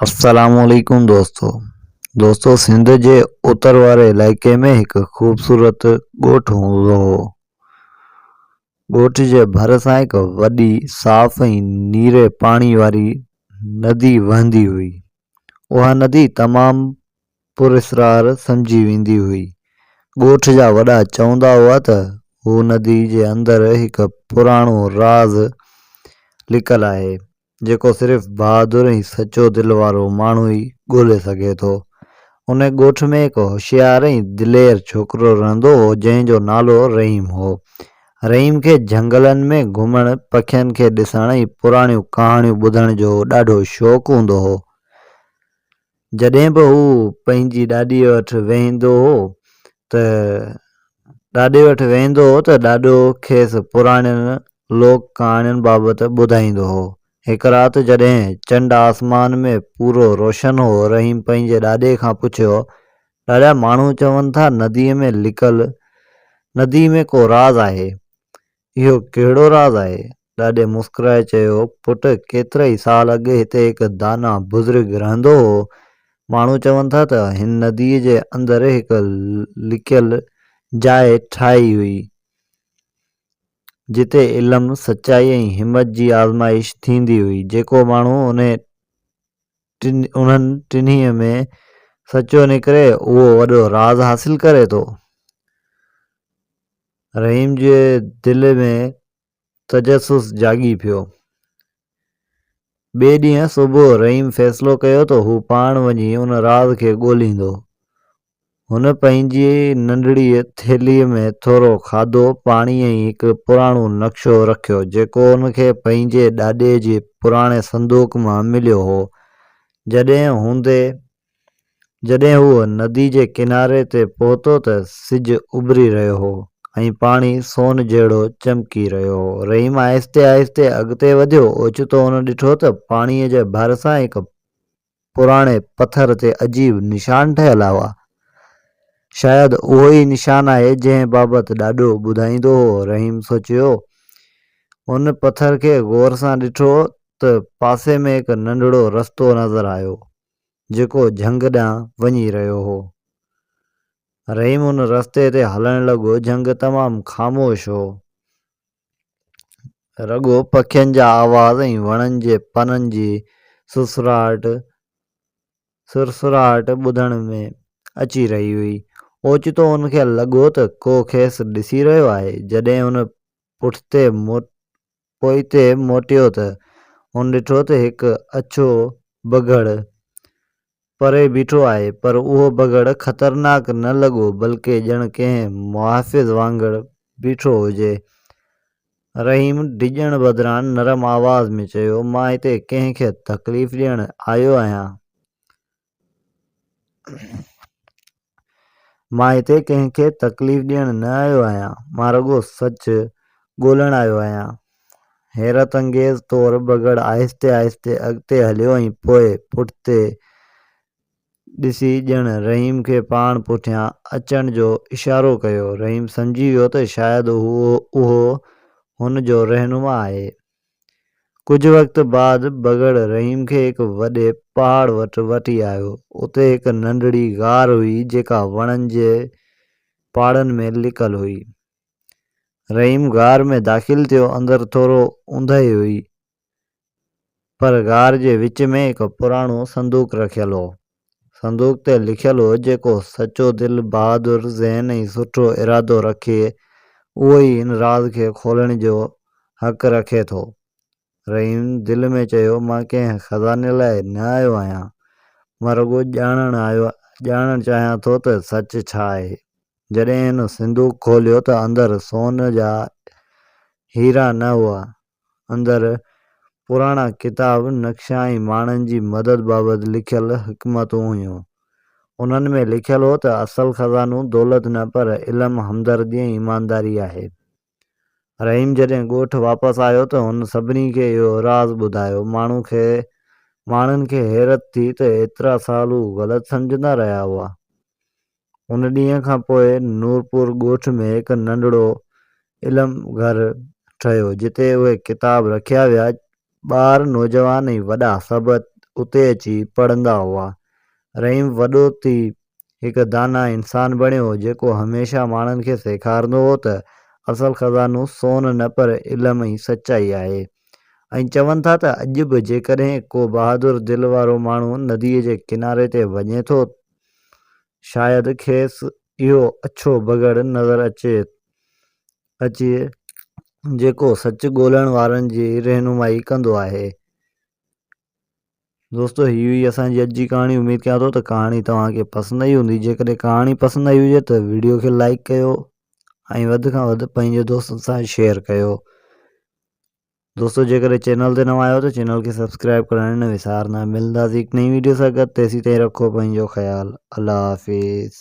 السلام عليڪم دوستو دوستو سنڌ جي اتر واري علائقي ۾ هڪ خوبصورت ڳوٺ هوندو هو ڳوٺ جي ڀر سان هڪ وڏي صاف ۽ نيري پاڻي واري ندي وهندي هئي اها ندي تمام پراسرار سمجهي ويندي هئي ڳوٺ جا وڏا چوندا هئا ته هو ندي جي اندر هڪ پراڻو راز لڪل آهي جيڪو صرف بهادر ۽ سچو دل وارو ماڻهو ئي ڳولي سگهي ٿو. ان ڳوٺ ۾ هڪ هوشيار ۽ دلير ڇوڪرو رهندو هو جنهن جو نالو رحيم هو. رحيم کي جهنگلن ۾ گهمڻ، پکين کي ڏسڻ ۽ پراڻيون ڪهاڻيون ٻڌڻ جو ڏاڍو شوق هوندو هو. جڏهن به هو پنهنجي ڏاڏيء وٽ ويهندو هو ته ڏاڏي وٽ ويهندو هو ته ڏاڏو کيس پراڻين لوڪ ڪهاڻين بابت ٻڌائيندو هو. هڪ رات جڏهن چنڊ آسمان ۾ پورو روشن هو، رحيم پنهنجي ڏاڏي کان پڇيو، ڏاڏا ماڻهو چون ٿا نديء ۾ لڪل ندي ۾ ڪو راز آهي. اهو ڪهڙو راز آهي؟ ڏاڏي مسڪرائي چيو، پٽ ڪيترائي سال اڳ هتي هڪ داناء بزرگ رهندو هو. ماڻهو چون ٿا ته هن نديء جي اندر هڪ لڪيل جاء ٺاهي هئي، جتي علم، سچائي ۽ همت جي آزمائش ٿيندي هئي. جيڪو ماڻهو انهيء ٽن انهن ٽنهي ۾ سچو نڪري اهو وڏو راز حاصل ڪري ٿو رحيم جي دل ۾ تجسس جاڳي پيو ٻئي ڏينهن صبح رحيم فيصلو ڪيو ته هو پاڻ وڃي ان راز کي ڳوليندو هن پنهنجي ننڍڙيء ٿيلهيء ۾ ٿورو کاڌو، پاڻي ۽ هڪ پراڻو نقشو رکيو، جيڪو هن کي پنهنجي ڏاڏي جي پراڻي صندوق مان مليو هو. جڏهن هوندي، جڏهن هو ندي جي ڪناري تي پهتو ته سج اڀري رهيو هو ۽ پاڻي سون جهڙو چمڪي رهيو هو. رحيم آهستي آهستي اڳتي وڌيو. اوچتو هن ڏٺو ته پاڻيء جي ڀرسان هڪ پراڻي پٿر تي عجيب نشان ٺهيل هئا. شايد اهو ئي نشان آهي جنهن بابت ڏاڏو ٻڌائيندو هو. رحيم سوچيو. هن پٿر کي غور سان ڏٺو ته پاسي ۾ هڪ ننڍڙو رستو نظر آيو جيڪو جهنگ ڏانهن وڃي رهيو هو. رحيم ان رستي تي هلڻ لڳو جهنگ تمام خاموش هو. رڳو پکين جا آواز ۽ وڻن جي پنن جي سرسراهٽ سرسراهٽ ٻڌڻ ۾ اچي رهي هئي. اوچتو هن کي لڳو ته ڪو کيس ڏسي رهيو آهي. جڏهن هن پٺتي پوئتي موٽيو ته هن ڏٺو ته هڪ اڇو بگهڙ پري بيٺو آهي پر اهو بگهڙ خطرناڪ نه لڳو بلڪه ڄڻ ڪنهن محافظ وانگر بيٺو هجي. رحيم ڊڄڻ بدران نرم آواز ۾ چيو، مان هتي ڪنهن کي تڪليف ڏيڻ آيو آهيان؟ مان هتي ڪنهن کي تڪليف ڏيڻ نه آيو آهيان، مان رڳو سچ ڳولڻ آيو آهيان. حيرت انگيز طور بگهڙ آهستي آهستي اڳتي هليو ۽ پوء پٺتي ڏسي ڄڻ رحيم کي پاڻ پٺيان اچڻ جو اشارو ڪيو. رحيم سمجهي ويو ته شايد اهو هن جو رهنما آهي. ڪجهه وقت بعد بگهڙ رحيم کي هڪ وڏي پهاڙ وٽ وٺي آيو. اتي هڪ ننڍڙي غار هئي جيڪا وڻن جي پاڙن ۾ لڪل هئي. رحيم غار ۾ داخل ٿيو اندر ٿورو اونداهي هئي پر غار جي وچ ۾ هڪ پراڻو صندوق رکيل هو. صندوق تي لکيل هو جيڪو سچو دل، بهادر ذهن ۽ سٺو ارادو رکي اهو ئي ان راز کي کولڻ جو حق رکي ٿو. رحيم دل ۾ چيو مان ڪنهن خزاني لاء نه آيو آهيان مان رڳو ڄاڻڻ آيو ڄاڻڻ چاهيان ٿو ته سچ ڇا آهي. جڏهن هن صندوق کوليو ته اندر سون جا هيرا نه هئا اندر پراڻا ڪتاب، نقشا ۽ ماڻهن جي مدد بابت لکيل حڪمتون هيون. انهن ۾ لکيل هو ته اصل خزانو دولت نه پر علم، همدردي ۽ ايمانداري آهي. رحيم جڏهن ڳوٺ واپس آيو ته هن سڀني کي اهو راز ٻڌايو. ماڻهو کي ماڻهن کي حيرت ٿي ته ايترا سال هو غلط سمجهندا رهيا هئا. ان ڏينهن کان پوء نورپور ڳوٺ ۾ هڪ ننڍڙو علم گهر ٺهيو، جتي اهي ڪتاب رکيا ويا. ٻار، نوجوان ۽ وڏا سڀ اتي اچي پڙهندا هئا. رحيم وڏو ٿي هڪ داناء انسان بڻيو، جيڪو هميشه ماڻهن کي سيکارندو هو ته اصل خزانو سون نه پر علم ۽ سچائي آهي ۽ چون ٿا ته اڄ به جيڪڏهن ڪو بهادر دل وارو ماڻهو نديء جي ڪناري تي وڃي ٿو ته شايد کيس اهو اڇو بگهڙ نظر اچي جيڪو سچ ڳولڻ وارن جي رهنمائي ڪندو آهي. دوستو هي هئي اسان جي اڄ جي ڪهاڻي اميد ڪيان ٿو ته ڪهاڻي توهان کي پسند آئي هوندي جيڪڏهن ڪهاڻي پسند آئي هجي ته ويڊيو کي لائڪ ڪيو ۽ وڌ کان وڌ پنهنجي دوستن سان شيئر ڪيو دوستو جيڪڏهن چينل تي نوان آهيو ته چينل کي سبسڪرائب ڪرڻ نه وسارنا ملنداسين هڪ نئين ويڊيو سان گڏ تيسين تائين رکو پنهنجو خيال الله حافظ.